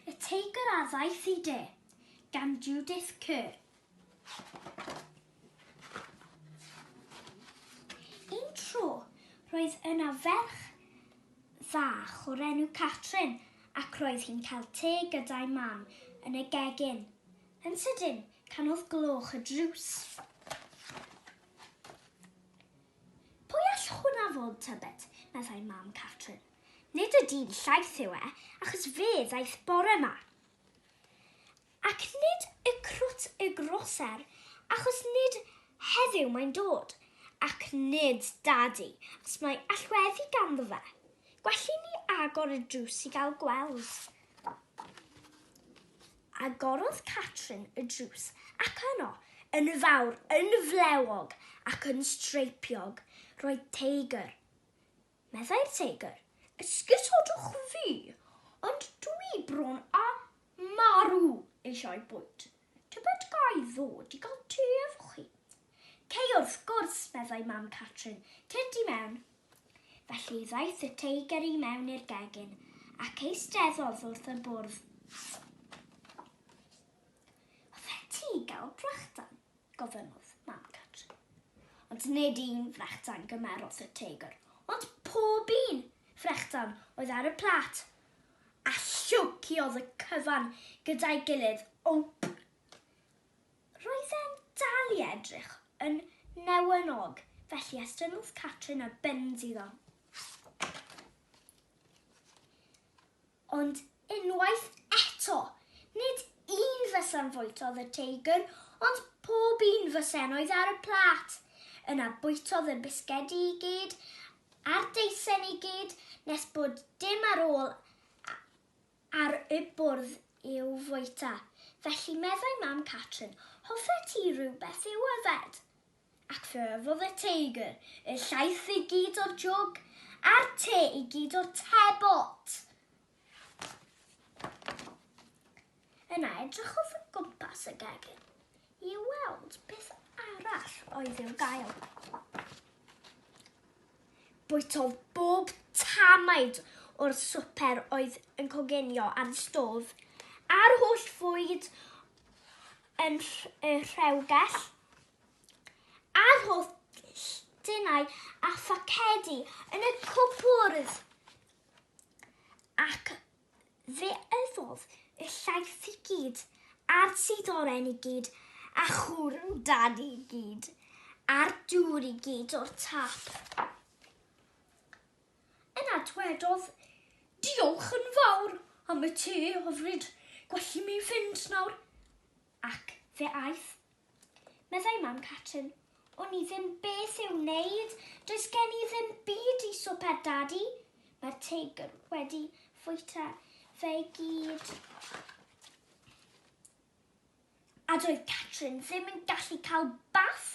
Y Teigr a Ddaeth i De, gan Judith Kerr. Un tro, roedd yna ferch fach o'r enw Catrin ac roedd hi'n cael te gyda'i mam yn y gegin. Yn sydyn, canodd gloch y drws. Pwy all hwnna fod, tybed? meddai mam Catrin. Nid y dyn llaeth yw e, achos fe ddaeth bore ma. Ac nid y crwt y groser, achos nid heddiw mae'n dod, ac nid dadi, achos mae allweddi ganddo fe. Gwelli ni agor y drws i gael gweld. Agorodd Catrin y drws, ac yno, yn fawr, yn flewog, ac yn streipiog, roedd teigr. Meddai'r Teigr, Esgusodwch fi, ond dwi bron a marw eisiau bwyd. Tybed ga i ddod i gael te efo chi? Cei wrth gwrs, meddai Mam Catrin, tyd i mewn. Felly ddaeth y Teigr i mewn i'r gegin ac eisteddodd wrth y bwrdd. Hoffet ti gael brechdan? gofynnodd mam Catrin. Ond nid un frechdan gymerodd y teigr, ond pob un frechdan oedd ar y plat, a llwciodd y cyfan gyda'i gilydd wmp. Roedd e'n dal i edrych yn newynog, felly estynnodd Catrin y bins iddo. Ond unwaith eto, nid un fys am fwytodd y teigr, ond pob un fys ennoedd ar y plât. Yna bwytodd y bisgedi i gyd, a'r deisen i gyd, nes bod dim ar ôl ar y bwrdd i'w fwyta. Felly meddai mam Catrin, Hoffet ti rywbeth i'w yfed? Ac fe yfodd y teigr y llaeth i gyd o'r jwg, a'r te i gyd o'r tebot. Yna edrychodd o gwmpas y gegin i weld beth arall oedd i'w gael. Bwytodd bob tamaid o'r swper oedd yn coginio ar y stof, a'r holl fwyd yn y rhewgell, a'r holl dinau a phacedi yn y cwpwrdd. Ac fe yfodd y llaeth i gyd, a'r tidoren i gyd, a chwrw dan i gyd, a'r dŵr i gyd o'r tap. Yna dwedodd, Diolch yn fawr am y te hyfryd, gwelli mi fynd nawr. Ac fe aeth. Meddai mam Catrin, O'n i ddim beth i'w wneud, does gen i ddim byd i swper, Dadi. Mae'r teigr wedi fwyta fe gyd. A doedd Catrin ddim yn gallu cael bath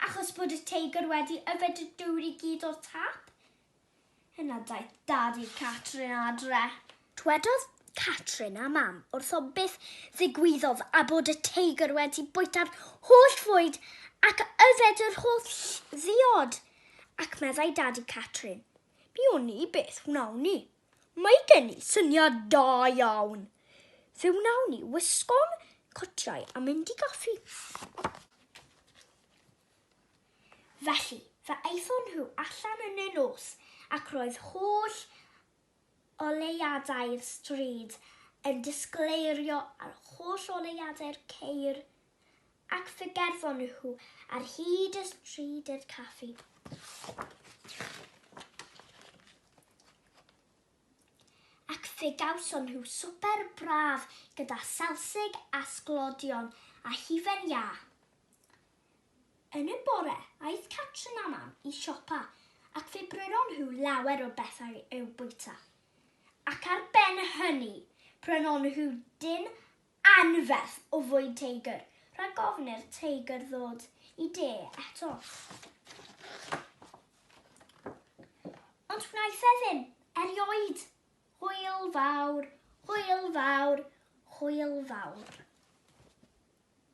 achos bod y teigr wedi yfed y dŵr i gyd o'r tap. Yna daeth Dad i Catrin adre. Dwedodd Catrin a Mam wrtho beth ddigwyddodd a bod y teigr wedi bwyta'r holl fwyd ac yfed yr holl ddiod. Ac meddai Dad i Catrin, Mi wn i beth wnawn ni. Mae gen i syniad da iawn! Fe wnawn ni wisgo'n cotiau a mynd i gaffi. Felly, fe aethon nhw allan yn y nos ac roedd holl oleuadau'r stryd yn disgleirio ar holl oleuadau'r ceir Ac fe gerddon nhw ar hyd y stryd i'r caffi. Ac fe gawson nhw swper braf gyda salsig a sglodion a hufen iâ. Yn y bore, aeth Catrin a Mam i siopa ac fe brynon nhw lawer o bethau i'w bwyta. Ac ar ben hynny, prynon nhw dyn Anferth o fwyd teigr, rhag ofni'r teigr ddod i de eto. Ond wnaeth e ddim, erioed. Hwyl fawr, hwyl fawr, hwyl fawr.